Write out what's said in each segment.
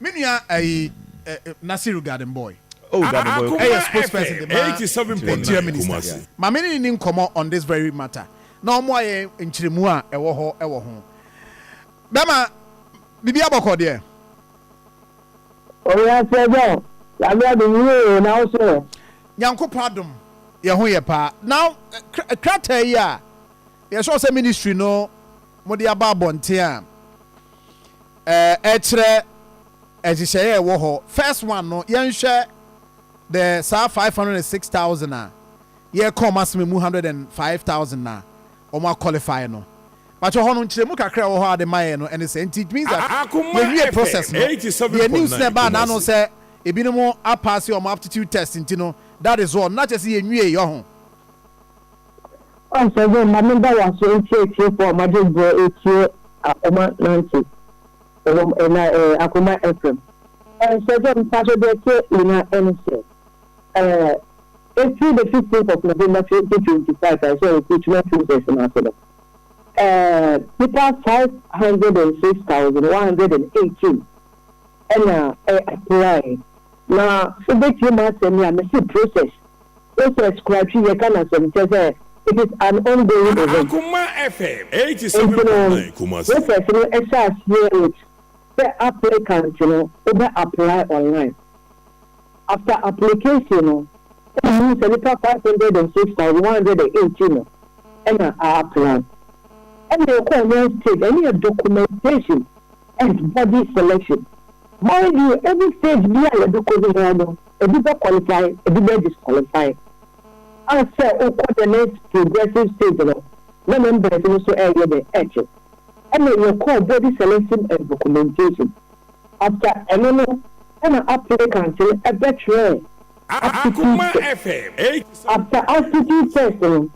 Me nua ɛyi ɛ ɛ Nasiru garden boy. Oh garden boy okay. Ɛyɛ sports person de ma Nigeria ministers. Ma me ne ne ni nkɔmɔ on this very matter na ɔmoa yɛn nkyeremu a ɛwɔ hɔ ɛwɔ ho. Bɛma biribi abɔkɔ deɛ. Owura Sɛgyaw, Nyame adom yie oo, na wo so ɛ? Nyankopɔn adom, yɛn ho yɛ paa. Now, krataa yi a, yɛ sure sɛ ministry no mo de aba abɔnten a. Ɛkyerɛ nhyehyɛeɛ a ɛwɔ hɔ. First one no, yɛnhwɛ the saa five hundred and six thousand a yɛreka wɔn asem emu hundred and five thousand a wɔn a qualify no. Mpakyɛ hɔ no nkyerɛmu kakra a ɛwɔ hɔ a wɔde maɛɛ no ɛne sɛ, nti it means that yɛnwie process no, deɛ news no ɛbaa naano sɛ ebinom apaase wɔn aptitude test nti no, that is all, na kyerɛ sɛ yɛnwieɛ ɔho. Ɔsɛ dɛ ma meda wo ase ntsi etsiefo a wɔagye dza etsie akoma nantse wɔ na akoma frɛm. Ɔsɛ dɛ mefa so dze etsie nyina ne sɛ fir the 15th of November 2025 a sɛ okrutuma process no ase no nyimpa five hundred and six thousand one hundred and eighteen na ɛ apply na wobetsie m'asɛm yi a mese process Process Krakye yɛka no asɛm kyerɛ sɛ it is an ongoing event. Enti no process no hyɛ aseɛ with sɛ applicant no wobɛ apply online. After application no ɛna yɛhu sɛ nipa five hundred and six thousand one hundred and eighteen no ɛna a apply. Ɛna yɛkɔ next stage ɛne yɛ documentation and body selection. By deɛ any stage bi a yɛbɛkɔ biara no ebi bɛ qualify ebi bɛ disqualify a sɛ wokɔ the next progressive stage no na members no nso ɛɛyɛ dɛ ɛɛkye ɛna yɛkɔɔ body selection and documentation after ɛno no ɛna applicant no ɛbɛtwerɛɛ aptitude test after aptitude test no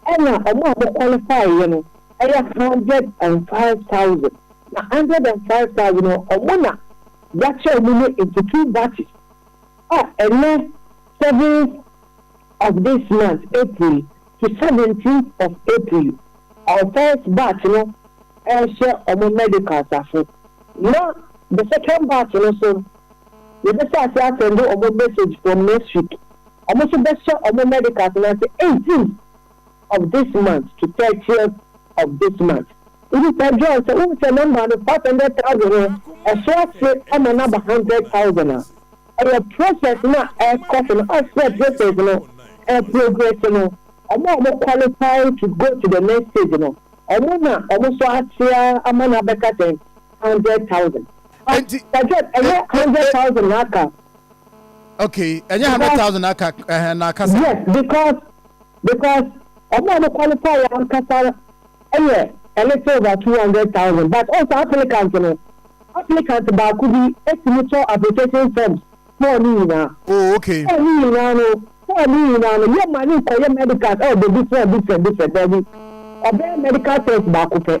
ɛna ɔmo a ɔmo qualify yɛ no ɛyɛ hundred and five thousand. Na hundred and five thousand no, ɔmo na Y'akyɛw mu no into two batches a ɛnnɛ seventh of this month, April, to seventeenth of April, ɔmo first batch no ɛɛhyɛ ɔmo medicals ase, na the second batch no so yɛbɛhyɛ ase asɛnde ɔmo message from next week, ɔmo so bɛhyɛ ɔmo medicals no ase eighteenth of this month to thirtieth of this month. Wobisa John sɛ, Wohu sɛ nɔmba no, five hundred thousand no, ɛso ase ma no aba hundred thousand a? Ɛyɛ process no a ɛrekɔ so no, as sɛ process no reprogress no, wɔn a wɔn qualify to go to the next stage no, wɔn na wɔn nso ase ara ama no abɛka sɛn? Hundred thousand. Enti, Pastor John, e- ɛnyɛ e- hundred e- thousand na aka. okay ɛnyɛ hundred Because, thousand aka ɛhɛn na aka sa. yes, because because ɔmo a ɔmo qualify yɛ ankasa no yɛ a little over two hundred thousand but ɔn sɛ applicant no applicant baako bi tumi tɔ application forms ma ɔne nyinaa Oh okay. ɔn ne nyinaa no ɔn ne nyinaa no yɛ ma ne nkɔ yɛ medicals ɛwɔ bɛ different different different daabi ɔbɛyɛ medical test baako pɛ.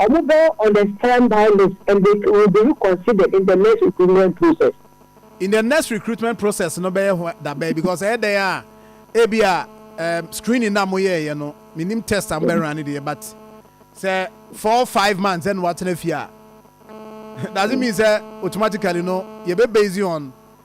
Wɔbɔ on a standby list and they will be reconsidered in the next recruitment process. In the next recruitment process no bɛyɛ ho dabɛn because ɛyɛ dɛn a ebia um, screening na moyɛɛyɛ no menim test a mobɛran ne deɛ but sɛ four five months ɛna watena fie a doesn't mean sɛ automatically no yɛbɛ based on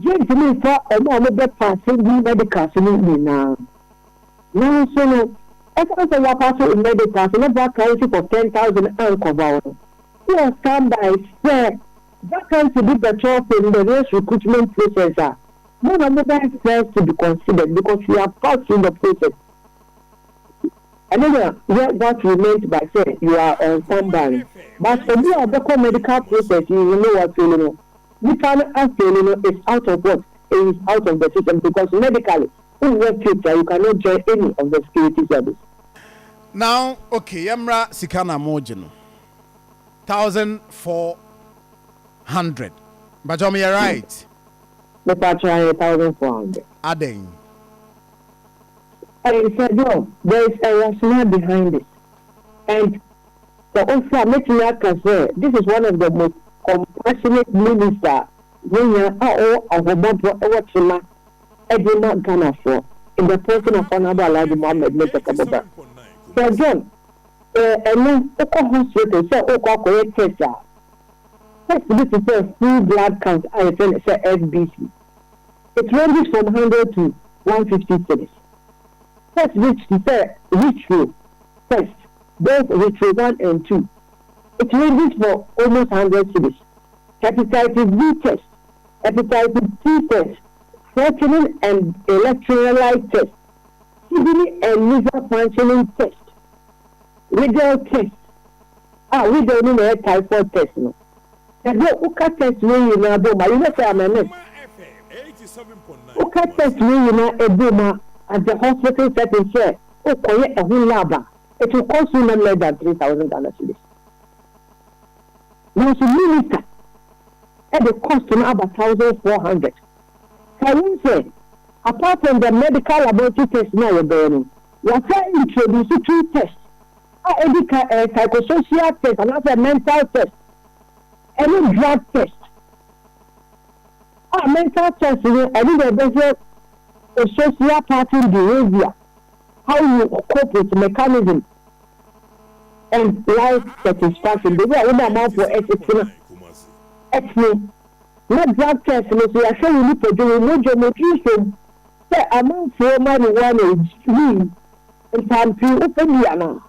Yentumi mfa wɔn a wɔbɛpaase nnii medicals no nyinaa. Nanso no, esiane sɛ wɔapaase wɔn medicals na vacancy for ten thousand ankɔ hɔ no, wowɔ standby sɛ vacancy bi bɛtɔ for the next recruitment process a, mo na mobɛyɛ first to be considered because you are fast in the process. Ɛno na yɛ what we meant by sɛ you are on standby no. But obi a ɔbɛkɔ medical process yi no ne wafeeli no, Nipa no asɛli no is out of what? It is out of the system because medically wo nnya faith a you can not join any of the security service. Now ok yɛ mmra sika na mo gye no thousand four hundred mpakyɛw meyɛ right? Me pakyɛw ɛyɛ thousand four hundred. Adɛn? Ɛyɛ sɛ John there is a rationale behind it and. Sɛ ose a, mɛtumi aka sɛ this is one of the most compassionate minister a yɛnya a ɔwɔ ahomɔborɔ wɔ tema de ma Ghanafoɔ in the person of Honourable Alhaji Mohammed Murtaka Abubakar. Sir John, sɛ ɛnnɛ wokɔ hospital sɛ worekɔ akɔyɛ test a, test bi te sɛ full blood count a yɛfrɛ no sɛ FBC, it ranges from hundred to one fifty cedis. Test bi te sɛ history test Both History One and Two, It ranges for almost hundred cedis. Hepatitis B Test, Hepatitis C Test, Creatinine and Electrolyte Test, Kidney and Liver Functioning Test, Widal Test, a Widal no na ɛyɛ Typhoid Test no. Sɛ dɛ woka test wei nyinaa bom a, you know sɛ I'm a nurse, woka test wei nyinaa bom a, at the hospital setting sɛ O kɔ yɛ ɛho lab a it will cost you not less than three thousand Ghana cedis nanso minister ɛde cost no aba thousand four hundred kae hu sɛ apart from the medical laboratory test no a yɛbɛyɛ no yɛasan introduce two test a ɛdi kan ɛyɛ psychosocial test anaasɛ mental test ɛne drug test. A mental test no ɛno na ɛbɛhwɛ wo social pattern behavior, how you cope with mechanism and life satisfaction, baabi a wo ne amanfoɔ ɛsetena ɛteɛ. Na drug test no nso yɛahwɛ wo nipadwa, wo mogya mu, nsom sɛ amanfoɔ marijuana wii ntampii wofɛ bi anaa,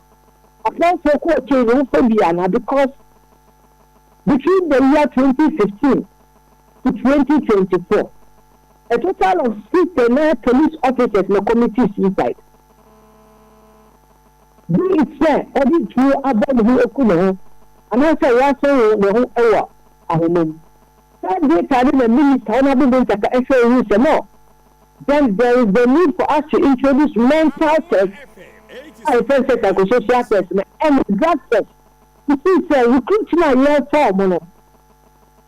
amanfoɔ cocaine wofɛ bi anaa because between the year 2015 to twenty twenty four, a total of six Ghana police officers na committed suicide. Be it sɛ ɔde tuo abɔ ne ho aku ne ho anaasɛ wasen wo ne ho wɔ ahoma mu. Saa data no na Minister Honourable Bontaka hwɛ hui sɛ no, then there is the need for us to introduce mental test a yɛfrɛ no sɛ psychosocial test no and drug test to see sɛ recruit no a yɛrefa wɔn no,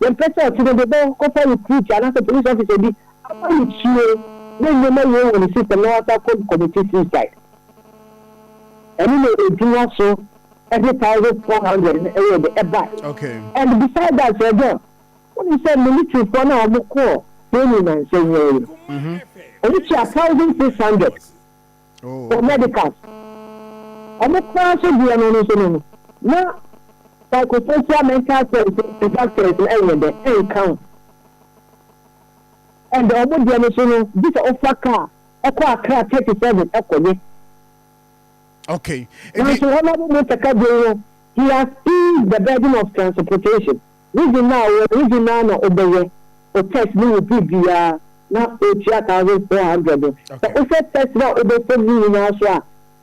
Yɛmpɛ sɛ ɔtse no do bɔkɔfa recruit anaasɛ police officer bi ama no tue ne nneɛma wie wɔ ne system na ɔasan akɔ commite suicide. Ɛno na edin aso ne thousand four hundred no yɛ dɛ ɛbae. And beside that Sir John, wonim sɛ militaryfoɔ no a wɔkɔɔ training nnansa yi ara yi no, wɔtua thousand six hundred. wɔ medical. Ɔmo koraa so deɛ no no so no no na psychosocial mental services factors no ɛnyɛ dɛ ɛnka ho. And ɔmo deɛ no so no gye sɛ wofa car ɛkɔ Accra thirty seven ɛkɔ yɛ. Okay. Nanso Honourable Mr. Kadjei no he has eased the burden of transportation. Wo dze no a ɔwɔ no, wo dze no ara na ɔbɛyɛ wo test no wɔ biribiara na otua thousand four hundred no. Sɛ wohwɛ test no a wobɔkɔ mu no nyinaa so a,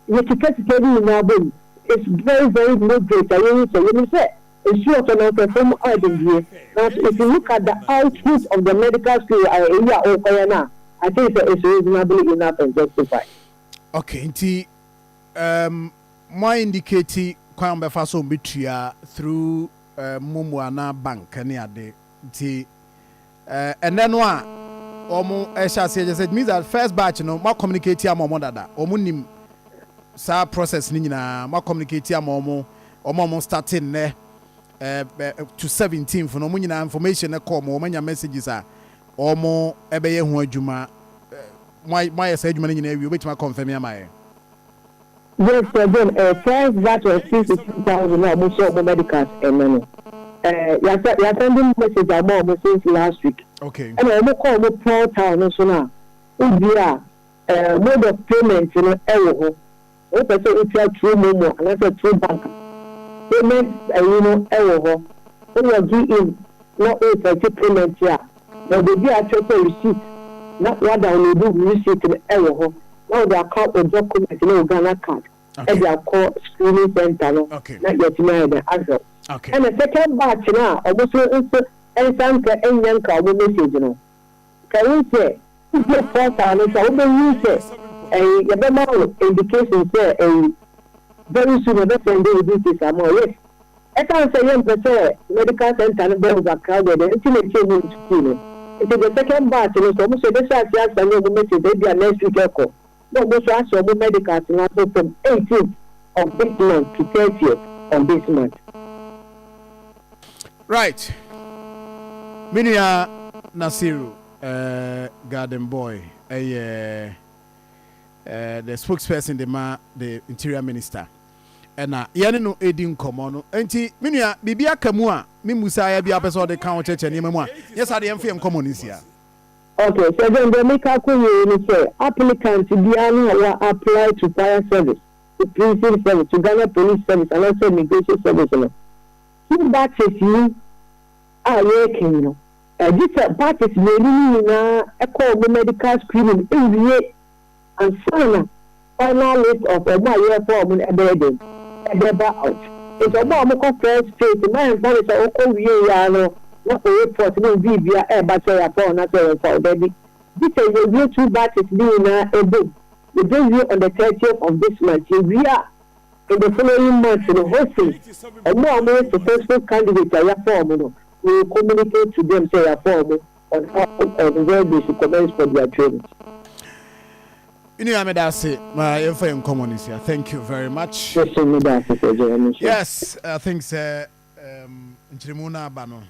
yɛkeka sika no nyinaa bɔ mu, it's very very moderate a yɛhu sɛ, yɛnim sɛ nsu ɔtɔ no mfɛfo mu ayɛ den deɛ, nanso if you look at the output of the medical school wɔ ayɛ eyi a wokɔyɛ no a, I think sɛ it's reasonably enough and justified. Okay, nti um, mo a indicate kwan a wɔbɛfa so wɔbɛtua through. mɔ mu anaa bank ne ade nti ɛnɛ no a wɔn ɛhyɛ aseɛ kyɛ sɛ it means that first batch no mo communicate ama wɔn dada wɔn nim saa process no nyinaa mo communicate ama wɔn wɔn a wɔn start nnɛ to seventeenth no wɔn nyinaa information no kɔ wɔn wɔn anya messages a wɔn ɛbɛyɛ ho adwuma mo ayɛ saa adwuma no nyinaa awie wɔbɛtumi akɔnfɛmi ama yɛn. Yes sir John eh first batch of two to three thousand a ɔmo hyɛ ɔmo medicals ɛnɛ no eh yasa yasɛnde message ama ɔmo since last week Okay. ɛna ɔmo kɔ ɔmo portal no so no a wodue a eh mode of payment no ɛwɔ hɔ sɛ wopɛ sɛ wotua through momo anaasɛ through bank a payment ɛyi no ɛwɔ hɔ wo login in na wo effect payment a. na obedua akyerɛ sɛ receipt na wɔadownloadu receipt no wɔ hɔ na wɔde aka wo document ne wo Ghana card de akɔ screening centre no na yɛatumi ayɛ dɛn ahwɛ wo. Ɛna second batch no a ɔmo so nso nsa nka nnya nka ɔmo message no, nka wohu sɛ wodua portal no so a wobehu sɛ ɛyi yɛbɛma wo indication sɛ ɛyi very soon yɛbɛsɛnde wo details ama wo. Yes. Esiane sɛ yɛmpɛ sɛ medical centre no bɛ over crowded nti na ɛsɛ ɔmu nso pii no nti the second batch no nso ɔmo nso yɛbɛhyɛ aseɛ assign ɔmo nurses ebia next week ɛkɔ na ɔmo nso ahyɛ ɔmo medicals no abɔ fam eighteenth of this month to thirtieth of this month. Right me nua Nasiru eh, Garden Boy ɛyɛ eh, the spokesperson de ma the interior minister. na yɛne no redi nkɔmmɔ no. Enti, me nua, biribi aka mu a me mmusaeɛ biara pɛ sɛ ɔde ka wo kyɛkyɛ nneɛma mu a, nyɛ saa de, yɛmfa yɛn nkɔmmɔ no nsi ha. Ok, Sergeant, deɛ meka akɔ wieɛ ne sɛ, applicant biara no a wa apply to Fire Service, to Prison Service, to Ghana Police Service anaa sɛ Immigration Service no, two batches yi a yɛreka yi no, gye sɛ batches mmienu no nyinaa kɔ wɔn medical screening wie. Ansana final list of ɔmo a yɛɛfa ɔmo no ɛbɛyɛ dɛn ɛbɛba out nti ɔmo a ɔmo kɔ first phase no ɛnfa no sɛ ɔkɔ wie yɛ ara no na oreport ne obiibia ɛɛba sɛ yafa wo anaa sɛ yɛnfa wo dabi gye sɛ yɛwie two batches no nyinaa ɛbom yɛbɛwie on the thirtieth of this month yɛwie a in the following month no hopefully ɔmo a ɔmo yɛ successful candidate a yafa ɔmo no we will communicate to them sɛ yafa ɔmo. Ɔfa ɔfɛfɛɛ de si comments for dia twam. Me nua meda ase ma yɛmfa yɛn nkɔmmɔ no nsia thank you very much. Mese meda ase sɛ gye w'ani so. Yes I think sɛ um, nkyeremu no aba no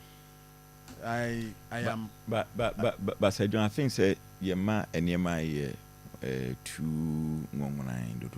I, I am. Ba, ba, ba, ba, Basa John I think sɛ yɛma nneɛma yɛ eh, too nwonwonan dodo.